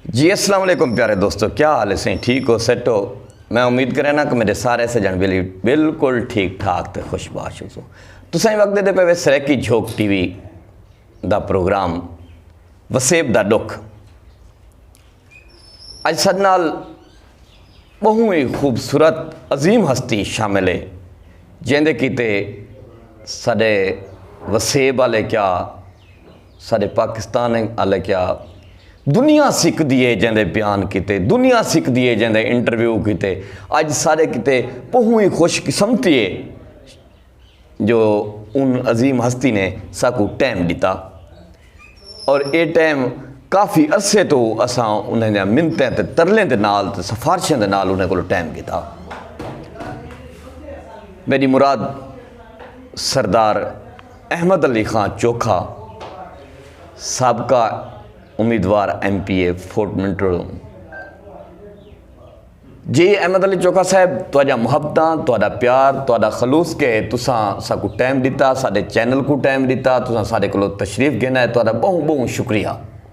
جی السلام علیکم پیارے دوستو کیا حال ہے سائیں ٹھیک ہو سیٹ ہو میں امید کرے نا کہ میرے سارے سجن بلی بالکل ٹھیک ٹھاک تے خوش باش ہو تو سائیں وقت دے پہ سریکی جھوک ٹی وی دا پروگرام وسیب دا ڈک اج سد نال بہوں ہی خوبصورت عظیم ہستی شامل ہے جیندے کیتے سڈے وسیب والے کیا سارے پاکستان اچ آلے کیا دنیا سکدی اے جیں دے بیان کیتے دنیا سکدی اے جیں دے انٹرویو کیتے اج سارے کیتے پہوں ای خوش قسمتی اے جو ان عظیم ہستی نے ساکوں ٹائم ڈتا اور اے ٹائم کافی عرصے تو اساں انہاں دیاں منتیں تے ترلیں دے نال تے سفارشاں دے نال انہاں کولو ٹائم گھدا میڈی مراد سردار احمد علی خان چوکھا سابقہ امیدوار M P A Fort Munro جی احمد علی چوکھا صاحب تہاڈیاں محبتاں تہاڈا پیار تہاڈا خلوص کے تساں ساکو ٹائم ڈتا ساڈے چینل کو ٹائم ڈتا تساں ساڈے کولو تشریف گھن آئے تہاڈا بہوں بہوں شکریہ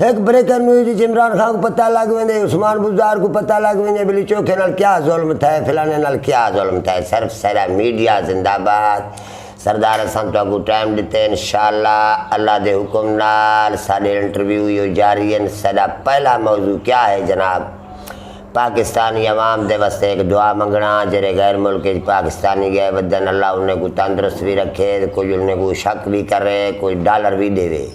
ہک بریکنگ نیوز اچ عمران خان کوں پتہ لگ ویندے عثمان بزدار کوں پتہ لگ ویندے بلی چوکھے نال کیا ظلم تھئے فلانے نال کیا ظلم تھئے صرف سیرا میڈیا زندہ باد سردار اساں تہاکوں ٹائم ڈتے انشاءاللہ اللہ دے حکم نال ساڈے انٹرویو ایو جاری ہن سیڈا پہلا موضوع کیا ہے جناب پاکستانی عوام دے واسطے ہک دعا منگنا ہاں جیرے غیر ملک اچ پاکستانی گئے ودن اللہ انہیں کوں تندرست وی رکھے کجھ انہیں کوں شک وی کرے کجھ ڈالر وی ڈیوے۔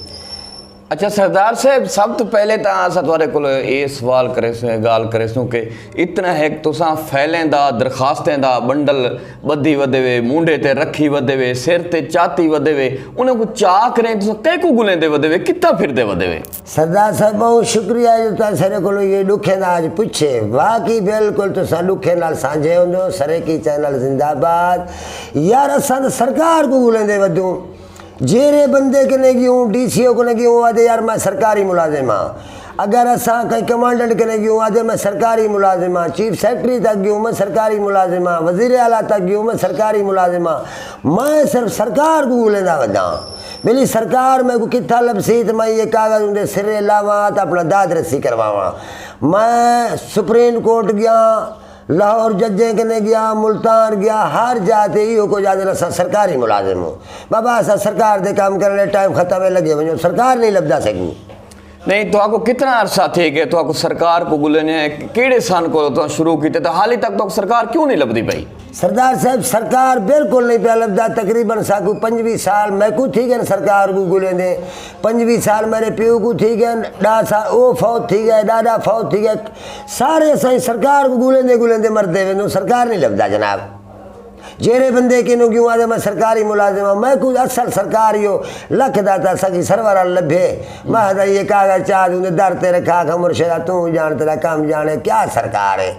اچھا سردار صاحب سب تو پہلے تا آسا توارے کلو اے سوال کرے سوں اے گال کرے سوں کہ اتنا ہے تو ساں فیلیں دا درخواستیں دا بنڈل بدھی ودے وے مونڈے تے رکھی ودے وے سر تے چاتی ودے وے انہوں کو چاہ کریں تو ساں کئی کو گلیں دے ودے وے کتا پھر دے ودے وے سردار صاحب بہت شکریہ ہے جو تاں سرے کلو یہ لکھے دا آج پچھے واقعی بالکل تو ساں لکھے نال سانجھے ہوں دو سرے کی چینل زندہ بات یار ساں سرکار کو گلیں دے ودوں جیرھے بندے کنے گیوں ڈی سی او کنے گیوں او آدھے یار میں سرکاری ملازم ہاں اگر اساں کہیں کمانڈنٹ کنے گیوں او آدھے میں سرکاری ملازم ہاں چیف سیکرٹری تک گیوں میں سرکاری ملازم ہاں وزیر اعلی تک گیوں میں سرکاری ملازم ہاں میں صرف سرکار کوں گھلیندا وداں بیلی سرکار میکوں کتھاں لبھسی تے میں ایہہ کاغذ اوندے سرے لاواں تے اپنا داد رسی کرواواں میں سپریم کورٹ گیاں لاہور ججیں کنیں گیا، ملتان گیا، ہر جا تے ایہو کجھ آہدن اساں سرکاری ملازم ہوں۔ بابا اساں سرکار دے کم کرݨ آلے ٹائم ختم ہے لگے ونڄو، سرکار نئیں لبھدا سڳی۔ نئیں تہاکوں کتنا عرصہ تھی ڳئے تہاکوں سرکار کوں ڳولیندے ہیں، کیڑھے سن کولوں تہاں شروع کیتے تے حالی تک تہاکوں سرکار کیوں نئیں لبھدی پئی؟ سردار صاحب سرکار بالکل نئیں پیا لبھدا، تقریبا ساکوں پنجویہہ سال میکوں تھی ڳئن سرکار کوں ڳولیندے، پنجوی سال میݙے پیو کوں تھی ڳئن، ݙاہ سال او فوت تھی ڳئے، ݙاݙا فوت تھی ڳئے، سارے اساں سرکار کوں ڳولیندے ڳولیندے مردے ویندوں، سرکار نی لبھدا جناب۔ جیرھے بندے کنوں کیوں آدھے میں سرکاری ملازم ہاں، میں کوں اصل سرکار ایہو لکھ دا تاں سکی سرور آل لبھے، میں آہدا ایہے کاغذ چا توں دے در تے رکھا آکھاں مرشدا توں جاݨ تیݙا کم جاݨ ہے کیا سرکار ہے۔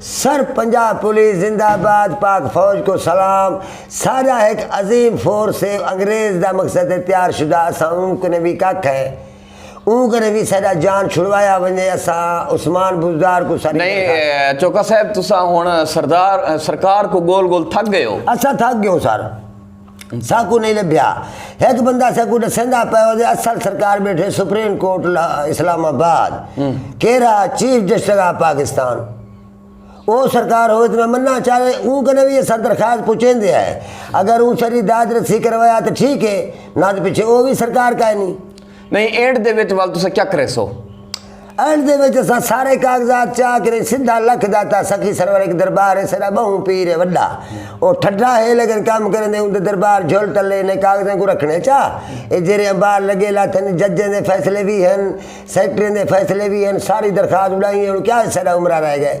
سر پنجاب پولیس زندہ باد پاک فوج کوں سلام ساڈا ہک عظیم فورس ہے انگریز دا مقصد ہے تیار شدہ اساں اوں کنے وی ککھ ہے اوں کنے وی ساڈا جان چھڑوایا ونجے اساں عثمان بزدار کوں ساڈی نہیں تنخواہ چوکا صاحب تساں ہن سردار سرکار کوں گول گول تھک گئے ہو۔ اساں تھک گیوں سر۔ ساکوں نہیں لبھیا۔ ہک بندہ ساکوں ڈسیندا پئے ہو جے اصل سرکار بیٹھے سپریم کورٹ اسلام آباد، کیرا چیف جسٹس آف پاکستان۔ او سرکار ہووے تاں میں مناں چا تے اوں کنیں وی اساں درخواست پچیندے ہئے۔ اگر اوں ساڈی داد رسی کروایا تاں ٹھیک ہے، نہ تاں پچھے او وی سرکار کائنی۔ نہیں اینڈ دے وچ ول تسا کیا کرے سو اینڈ دے وچ اسا سارے کاغذات چا کرے سیدھا لکھ داتا سخی سرور ایک دربار ہے سرا بہو پیر ہے وڈا او ٹھڈا ہے لیکن کام کرے نے اون دے دربار جھول ٹلے نے کاغذیں کو رکھنے چا اے جیرے انبار لگے لاتن ججیں دے فیصلے بھی ہیں سیکٹریں دے فیصلے بھی ہیں ساری درخواست اڑائی ہیں کیا سرا عمرہ رہ گئے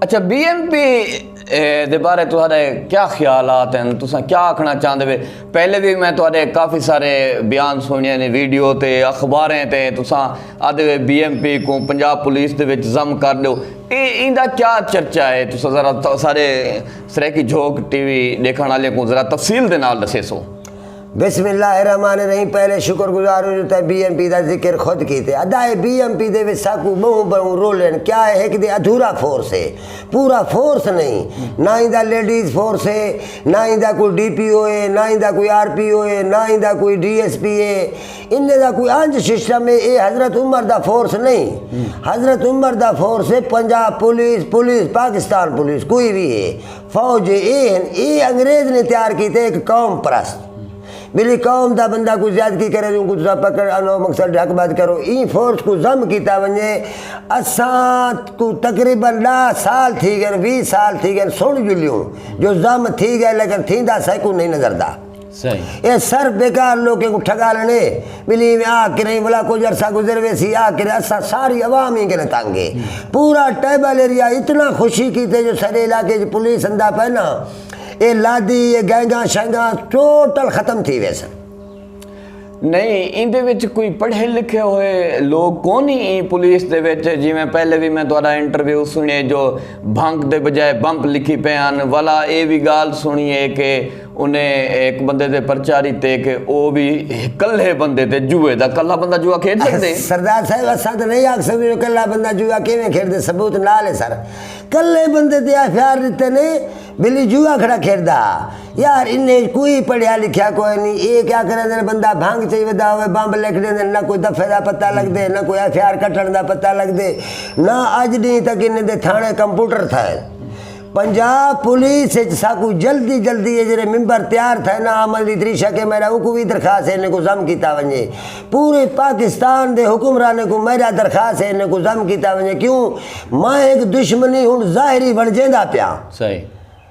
اچھا بی ایم پی دے بارے تہاڈے کیا خیالات ہیں تساں کیا آکھنا چاہندے وے پہلے بھی میں تہاڈے کافی سارے بیان سنیے نے ویڈیو تے اخباریں تے تساں آدھے وے بی ایم پی کوں پنجاب پولیس دے وچ ضم کر ڈیو اے ایندا کیا چرچا ہے تساں ذرا سارے سرائیکی جھوک ٹی وی ڈیکھن والے کوں ذرا تفصیل دے نال دسیسو بسم اللہ الرحمن الرحیم پہلے شکر گزار ہوں جو تیں بی ایم پی دا ذکر خود کیتے ادا اے بی ایم پی دے وچ ساکوں بہوں بہوں رولن کیا اے ہک دے ادھورا فورس ہے پورا فورس نہیں نہ ایندا لیڈیز فورس ہے نہ ایندا کوئی ڈی پی او ہے نہ ایندا کوئی آر پی او ہے نہ ایندا کوئی ڈی ایس پی ہے ان دا کوئی انج سسٹم ہے اے حضرت عمر دا فورس نہیں حضرت عمر دا فورس ہے Punjab police police Pakistan police کوئی بھی ہے فوج اے ہن اے انگریز نے تیار کیتے ایک قوم پرست میری قوم دا بندہ کو زیادتی کرے جو کو تسا پکڑ انو مقصد ڈھک بد کرو این فورس کو زم کیتا ونجے اساں کو تقریبا ڈا سال تھی گئے وی سال تھی گئے سن جلیوں جو زم تھی گئے لیکن تھیندا سائے کو نہیں نظر دا اے سر بیکار لوکیں کوں ٹھگالن اے، ٻلی ایویں آکھ کرئیں ولا کجھ عرصہ گزر ویسی آکھ کرئیں اساں ساری عوام ایں کنیں تنگ اے، پورا ٹیبل ایریا اتنا خوشی کیتے جو ساڈے علاقے اچ پولیس اندا پئے ناں اے لادی اے گینگاں شینگاں ٹوٹل ختم تھی ویسن۔ نئیں ایندے وچ کوئی پڑھے لکھے ہوئے لوگ کونی ایں پولیس دے وچ جیویں پہلے وی میں تہاڈا انٹرویو سنڑیے جو بھنگ دے بجائے بمپ لکھی پئے ہن ولا اے وی گالھ سنڑی اے کہ انہیں ہک بندے تے پرچہ ڈتے کہ او وی کلھے بندے تے جوئے دا کلھا بندہ جوا کھیڈ سگدے سردار صاحب اساں تے نئیں آکھ سگدے جو کلھا بندہ جوا کیویں کھیڈدے ثبوت نال اے سر کلھے بندے تے ایف آر ڈتے نے بلی جوا کھڑا کھیڈدا ہا۔ یار انہیں اچ کوئی پڑھیا لکھیا کوئے نی اے کیا کریندے نے بندہ بھنگ چئی ودا ہووے بمب لکھ ڈیندے نے نہ کوئی دفعے دا پتہ لگدے نہ کوئی ایف آر کٹن دا پتہ لگدے نہ اج ڈینہ تک انہیں دے تھانے کمپوٹر تھائے پنجاب پولیس اچ ساکو جلدی جلدی اے جڑے ممبر تیار تھائے نا عمل دی تریشہ کے میرا اوکو وی درخواست ہے انہیں کو ضم کیتا ونجے پورے پاکستان دے حکمرانے کو میرا درخواست ہے انہیں کو ضم کیتا ونجے کیوں ماں ایک دشمنی ہن ظاہری ونجے دا پیاں صحیح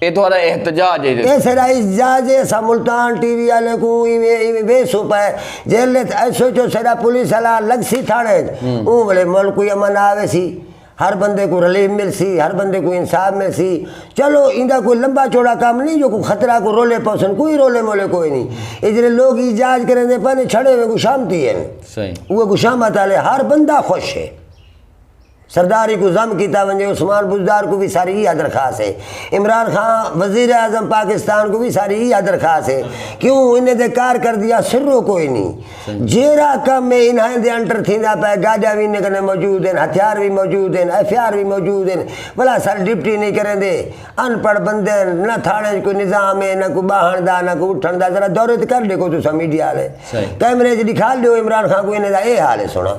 اے تہاڈا احتجاج ہے۔ اے ساڈا احتجاج ہے اساں ملتان ٹی وی آلیں کوں ایویں ایویں بے سوپا ہے جیلھ اچ ایس ایچ او ساڈا پولیس آلا لگسی تھانے اچ اوں ویلے ملک کوئی امن آ ویسی ہر بندے کوں ریلیف ملسی ہر بندے کوں انصاف ملسی چلو ایندا کوئی لمبا چوڑا کم نی جو کوئی خطرہ کوئی رولے پوسن کوئی رولے مولے کوئی نی اے جیڑھے لوگ احجاج کریندے پئے نے چھڑے ہوئے گشامتی ہن اوہ گشامت آلے ہر بندہ خوش ہے۔ سرداری کوں ضم کیتا ونجے، عثمان بزدار کوں وی ساری ایہا درخواست ہے۔ عمران خان وزیر اعظم پاکستان کوں وی ساری ایہا درخواست ہے کیوں انہیں دے کارکردیاں سروں کوئی نی۔ جیرھا کم اے انہائیں دے انٹر تھیندا پئے، گاڈیاں وی انہیں کنے موجود ہن، ہتھیار وی موجود ہن، ایف اے آر وی موجود ہن، بھلا سر ڈپٹی نی کریندے؟ ان پڑھ بندے ہن، نہ تھانے اچ کوئی نظام اے، نہ کوئی باہنڑ دا، نہ کوئی اٹھنڑ دا، ذرا دورے تے کر ڈیکھو تساں میڈیا آلے، کیمرے اچ ڈکھا ڈیو عمران خان کوں انہیں دا اے حال ہے سنڑاں۔